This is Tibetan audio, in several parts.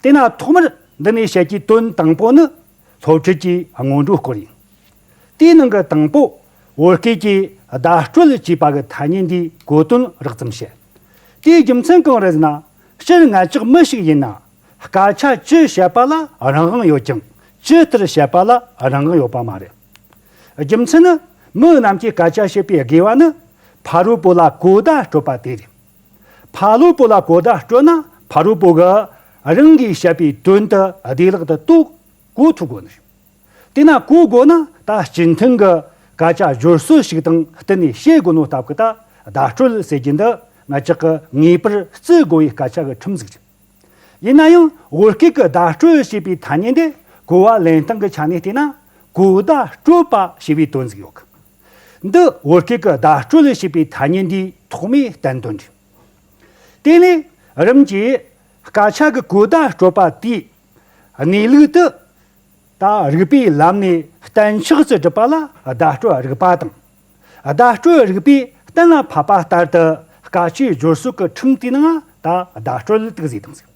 དེས་ན་ཐོག་མར་འདི་ནས་བཤད་རྒྱུའི་དོན་དང་པོ་ནི་སློབ་ཁྲིད་ཀྱི་སྔོན་འགྲོའི་སྐོར་ཡིན། དེའི་ནང་གི་དང་པོ་བོད་སྐད་ཀྱིས་བརྡ་སྤྲོད་བྱེད་པ་གི་ཐ་སྙད་འདིའི་གོ་དོན་རགས་ཙམ་བཤད། དེའི་རྒྱུ་མཚན་གང་རེད་ཟེར་ན་སྤྱིར་ང་ཅག་མི་ཞིག་ཡིན་ན་སྐད་ཆ་སྤྱི་བཤད་པ་ལ་རང་དབང་ཡོད་ཀྱང་སྤྱི་ལྟར་བཤད་པ་ལ་རང་དབང་ཡོད་པ་མ་རེད། རྒྱུ་མཚན་ནི་མི་རྣམས་ཀྱིས་སྐད་ཆ་བཤད་པའི་དགེ་བ་ནི་ཕ་རོལ་པོ་ལ་གོ་བརྡ་སྤྲོད་པ་དེ་རེད། ཕ་ལུས་པོ་ལ་གོ་བརྡ་སྤྲོད་ན་ཕ་རོལ་པོ་གིས་རང་གིས་བཤད་པའི་དོན་དུ་བདེ་ལག་ཏུ་རྟོགས་གོ་ཐུབ་དགོས་ནི་རེད། དེས་ན་གོ་དགོས་ན་ད་སྤྱི་མཐུན་གྱི་སྐད་ཆ་སྦྱོར་སྲོལ་ཞིག་དང་བསྟུན་ནས་བཤད་དགོས་ནོ་སྟབས་ཀྱི་ད་བརྡ་སྤྲོད་ཟེར་རྒྱུ་འདི་ང་ཅག་གི་ངེས་པར་བརྩི་དགོས་པའི་སྐད་ཆ་གི་ཁྲིམས་གཟུགས་རེད། ཡིན་ན་ཡང་བོད་སྐད་ཀྱི་བརྡ་སྤྲོད་ཞེས་པའི་ཐ་སྙད་འདི་གོ་བ་ལེན་སྟངས་ཀྱི་ཆ་ནས་བལྟས་ན་གོ་བརྡ་སྤྲོད་པ་ཞེས་པའི་དོན་གཟུགས་ཡོད་གི། འདི་བོད་སྐད་ཀྱི་བརྡ་སྤྲོད་ལས་བྱེད་པའི་ཐ་སྙད་འདིའི་ཐོག་མའི་བསྟན་དོན་རེད། དེ་ལས་རིམ་གྱིས་སྐད་ཆ་གི་གོ་བརྡ་སྤྲོད་པ་དེས་གནས་ལུགས་དེ་དག་རིགས་པའི་ལམ་ནས་གཏན་ཆགས་ཀྱི་སྒྲུབ་པ་ལ་བརྡ་སྤྲོད་རིགས་པ་དང། བརྡ་སྤྲོད་རིགས་པས་གཏན་ལ་ཕབ་པ་ལྟར་དུ་སྐད་ཆའི་སྦྱོར་སྲོལ་གྱི་ཁྲིམས་དེའི་ནང་དུ་བརྡ་སྤྲོད་ལུགས་དག་གཟིགས་དང་གཟིགས།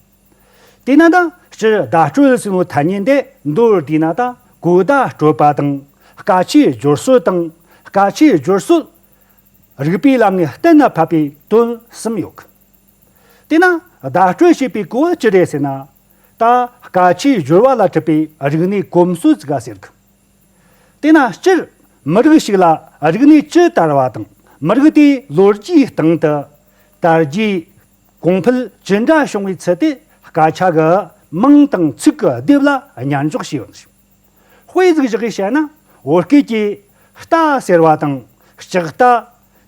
དེས་ན་དང་སྤྱིར་བརྡ་སྤྲོད་ཟིན་མོ་ཐ་སྙད་འདས་མདོར་བསྡུས་ན་དང་གོ་བརྡ་སྤྲོད་པ་དང་སྐ་ཆའི་སྦྱོར་སྲོལ་དང་སྐ་ཆའི་སྦྱོར་སྲོལ། རིགས་པའི་ལམ་ནས་གཏན་ལ་ཕབ་པའི་དོན་གསུམ་ཡོད་གི། དེས་ན་བརྡ་སྤྲོད་བྱེད་པའི་གོ་བ་ཅི་རེད་ཟེར་ན། ད་སྐ་ཆའི་སྦྱོར་བ་ལ་གྲུབ་པའི་རིག་གནས་གོམས་སྲོལ་ཟིག་ག་ཟེར་གི། དེས་ན་སྤྱིར་མི་རིགས་ཤིག་ལ་རིག་གནས་ཇི་ལྟར་བ་དང་མི་རིགས་དེའི་ལོ་རྒྱུས་སྟེང་དུ། དར་རྒྱས། གོང་འཕེལ་ཇི་འདྲ་བྱུང་བའི་ཚུལ་དེ་སྐད་ཆ་གི་དམངས་དང་ཚིག་གི་སྡེབ་ལ་ཉར་འཇོག་བྱས་ཡོད་ཞིང། དཔེ་གཟིགས་བཞག་གིས་བཤད་ན་བོད་སྐད་ཀྱི་རྟ་ཟེར་བ་དང་ལྕགས་རྟ།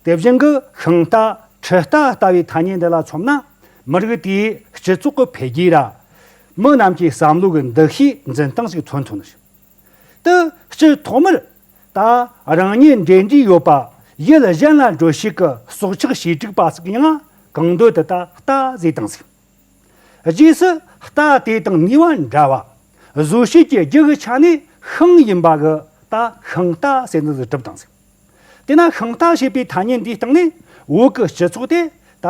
དེ་བཞིན་གྱི་ཤིང་རྟ་ཁྲི་རྟ་ལྟ་བུའི་ཐ་སྙད་འདི་ལ་མཚོན་ན་མི་རིགས་དེའི་སྤྱི་ཚོགས་ཀྱི་འཕེལ་རྒྱས་ལ་མི་རྣམས་ཀྱི་བསམ་བློའི་འདུ་ཤེས་འཛིན་སྟངས་ཤིག་མཚོན་ཐུབ། དུས་གཅིག་ཐོག་མར། ད་རང་ཉིད་འབྲེལ་འདྲིས་ཡོད་པ་ཡིད་ལ་གཞན་ལ་འགྲོ་ཤེས་ཀྱི་སྲོག་ཆགས་བྱེ་བྲུག་པ་ཟིག་ཡང་གང་འདོད་དུ་ད་ལྟ་ཟས་དང་གཟིགས། རྗེས་སུ་ད་དེ་དང་ནུས་བ་འདྲ་བ་བཟོ་ཤེས་ཀྱི་རྒྱུ་གི་ཆ་ནས་ཤིང་ཡིན་པ་གི་ད་ཤིང་རྟ་ཟས་ནི་གྲུབ་དང་གཟིགས། དེས་ན་ཤིང་རྟ་ཞེས་པའི་ཐ་སྙད་འདིའི་སྟེང་ནས་བོད་ཀྱི་སྤྱི་ཚོགས་དེ་ད་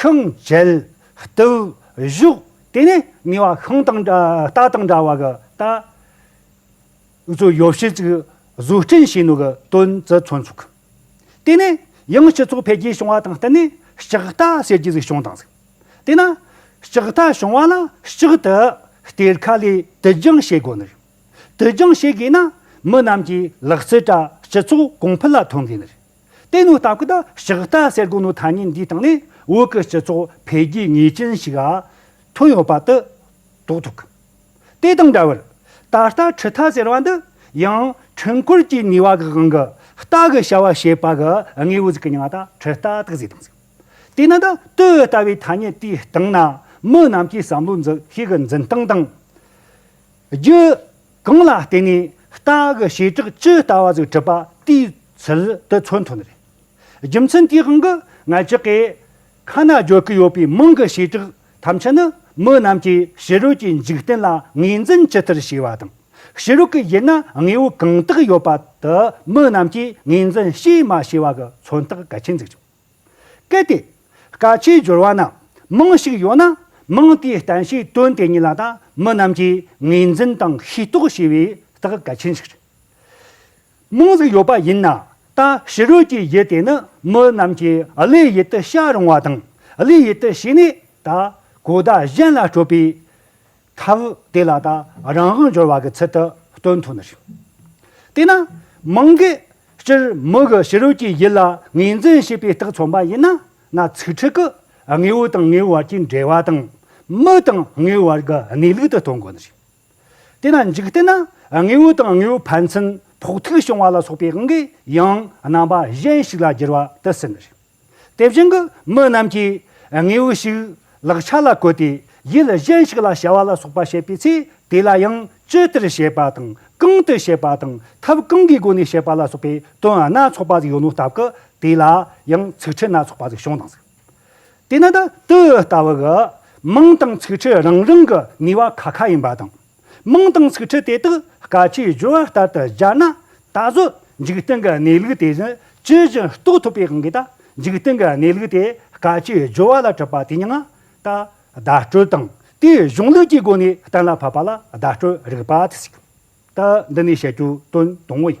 ཤིང་འབྱེད། བཏུལ། བཞུགས་དེ་ནས་ནུས་བ་ཤིང་དང་རྟ་དང་འདྲ་བ་གི་ད། དབུས་གཙོ་ཡོ་བྱད་ཅིག་བཟོ་སྐྲུན་བྱས་ནུས་པའི་དོན་བརྩི་མཚོན་ཚུགས། དེ་ནི་ཡང་སྤྱི་ཚོགས་འཕེལ་རྒྱས་བྱུང་བ་དང་བསྟུན་ནས་ལྕགས་རྟ་ཟེར་རྒྱུ་ཟིག་བྱུང་དང་ཟིག། དེས་ན་ལྕགས་རྟ་བྱུང་བ་ལ་ལྕགས་རྟའི་གཏེར་ཁ་ལས་དུད་རྒྱང་བྱེད་དགོས་ནི་རེད། དུད་རྒྱང་བྱེད་དགོས་ན་མི་རྣམས་ཀྱིས་ལག་རྩལ་བཀྲ་སྤྱི་ཚོགས་གོང་འཕེལ་ལ་ཐོན་དགོས་ནི་རེད། དེ་ནི་ལྟ་སྐུལ་ལྕགས་རྟ་ཟེར་དགོས་ནུས་ཐ་སྙད་འདིའི་སྟེང་ནས་བོད་ཀྱི་སྤྱི་ཚོགས་འཕེལ་རྒྱས་ངེས་ཅན་ཞིག་ཐོན་ཡོད་པ་དེ་རྟོགས་ཐུབ། དེ་དང་འདྲ་བར། ད་ལྟ་ཁྲི་མཐའ་ཟེར་བ་འདི་ཡང་འཕྲུལ་འཁོར་གྱི་ནུས་བ་གི་དབང་གི་རྟ་གི་བྱ་བ་བྱེད་པ་གི་དངོས་བོ་ཟིག་གི་མྱང་ད་ཁྲི་རྟ་དག་ཟེར་དང་ཟེར། དེ་ནི་འདི་དུས་ལྟ་བུའི་ཐ་སྙད་དེའི་སྟེང་ན་མི་རྣམས་ཀྱི་བསམ་བློའི་འཛིན་ཤེས་ཀྱི་འཛིན་སྟངས་དང། རྒྱུ། གང་ལ་བརྟེན་ནས་རྟ་གི་བྱེ་བྲག་ཇི་ལྟ་བ་ཟིག་བྲིས་པ་དེའི་ཚུལ་དུ་མཚོན་ཐུབ་ནི་རེད། རྒྱུ་མཚན་དེའི་དབང་གིས་ང་ཅག་གིས་ཁ་ན་རྒྱོབ་ཀྱི་ཡོད་པའི་མིང་གི་བྱེ་བྲག་ཐམས་ཅད་ནི་མི་རྣམས་ཀྱིས་ཕྱི་རོལ་གྱི་འཇིག་རྟེན་ལ་ངོས་འཛིན་ཇི་ལྟར་བྱས་པ་དང། ཕྱི་རོལ་གྱི་དབྱེ་ན་དངོས་པོ་གང་དག་ཡོད་པ་དེ་མི་རྣམས་ཀྱིས་ངོས་འཛིན་བྱས་མ་བྱས་པ་གི་མཚོན་རྟགས་གལ་ཆེན་འཛུགས་ཆོག་གལ་ཏེ། སྐད་ཆའི་སྦྱོར་བ་རྣམས་མང་ཞིག་ཡོད་ན་མིང་དེའི་གཏན་ཤའི་དོན་དེ་ཉིད་ལ་ད་མི་རྣམས་ཀྱིས་ངོས་འཛིན་དང་ཤེས་རྟོགས་བྱས་པའི་རྟགས་གལ་ཆེན་ཞིག་རེད། རྨོངས་རིགས་ཡོད་པ་ཡིན་ན་ད་ཕྱི་རོལ་གྱི་ཡིད་དེ་ནི་མི་རྣམས་ཀྱི་ཀླུའི་ཡིད་དུ་ཤར་རུང་བ་དང་ཀླུའི་ཡིད་དུ་ཞིག་ནས་ད་གོ་བརྡ་གཞན་ལ་སྤྲོད་པའི་ཐབས་དེ་ལ་ད་རང་དབང་འབྱོར་བ་གི་ཚུལ་དུ་སྟོན་ཐུབ་ནི་རེད། དེས་ན་མང་གི་སྤྱིར་མི་གི་ཕྱི་རོལ་གྱི་ཡིད་ལ་ངོས་འཛིན་བྱེད་པའི་རྟགས་མཚོན་པ་ཡིན་ན་ན་ཚིག་ཁྲི་གི་དངོས་པོ་དང་དངོས་པོའི་བར་གྱི་འབྲེལ་བ་དང་མི་དང་དངོས་པོའི་བར་གྱི་གནས་ལུགས་དུ་སྟོན་དགོས་ནི་རེད། དེ་ན་འཇིག་རྟེན་ན་དངོས་པོ་དང་དངོས་པོའི་ཕན་ཚུན་ཕོག་ཐུག་བྱུང་བ་ལ་སོགས་པའི་དབང་གིས་ཡང་རྣམ་པ་གཞན་ཞིག་ལ་འགྱུར་བ་དེ་སེམས་རེད། དེ་བཞིན་དུ་མི་རྣམས་ཀྱིས་དངོས་པོ་ཞིག་ལག་ཆ་ལ་བཀོལ་ཏེ་ཡུལ་གཞན་ཞིག་ལ་བྱ་བ་ལ་སོགས་པ་བྱེད་པའི་ཚེ་དེ་ལ་ཡང་ཅི་ལྟར་བྱེད་པ་དང་གང་དུ་བྱེད་པ་དང་ཐབས་གང་གི་སྒོ་ནས་བྱེད་པ་ལ་སོགས་པའི་དོན་སྣ་ཚོགས་པ་ཞིག་ཡོད་ནོ་སྟབས་ཀྱིས་དེ་ལ་ཡང་ཚིག་ཕྲད་སྣ་ཚོགས་པ་ཞིག་བྱུང་སྣང་ཟིག། དེས་ན་ད་ལྟའི་ལྟ་བ་གི་དམངས་དང་ཚིག་ཁྲི་རང་རང་གི་ནུས་བ་ཁ་ཁ་ཡིན་པ་དང། དམངས་དང་ཚིག་ཁྲི་དེ་དག་སྐ་ཆའི་སྦྱོར་བ་ལྟར་དུ་སྦྱར་ན་ད་གཟོད་འཇིག་རྟེན་གྱི་གནས་ལུགས་དེ་བཞིན་ཇི་བཞིན་རྟོགས་ཐུབ་པའི་དབང་གིས་ད་འཇིག་རྟེན་གྱི་གནས་ལུགས་དེ་སྐ་ཆའི་སྦྱོར་བ་ལ་གྲུབ་པ་དེ་ཡང་ད་བརྡ་སྤྲོད་དང་དེའི་གཞུང་ལུགས་ཀྱི་སྒོ་ནས་གཏན་ལ་ཕབ་པ་ལ་བརྡ་སྤྲོད་རིག་པ་དེ་ཞིག་ད་འདི་ནས་བཤད་རྒྱུ་དོན་དང་པོ་ཡིན།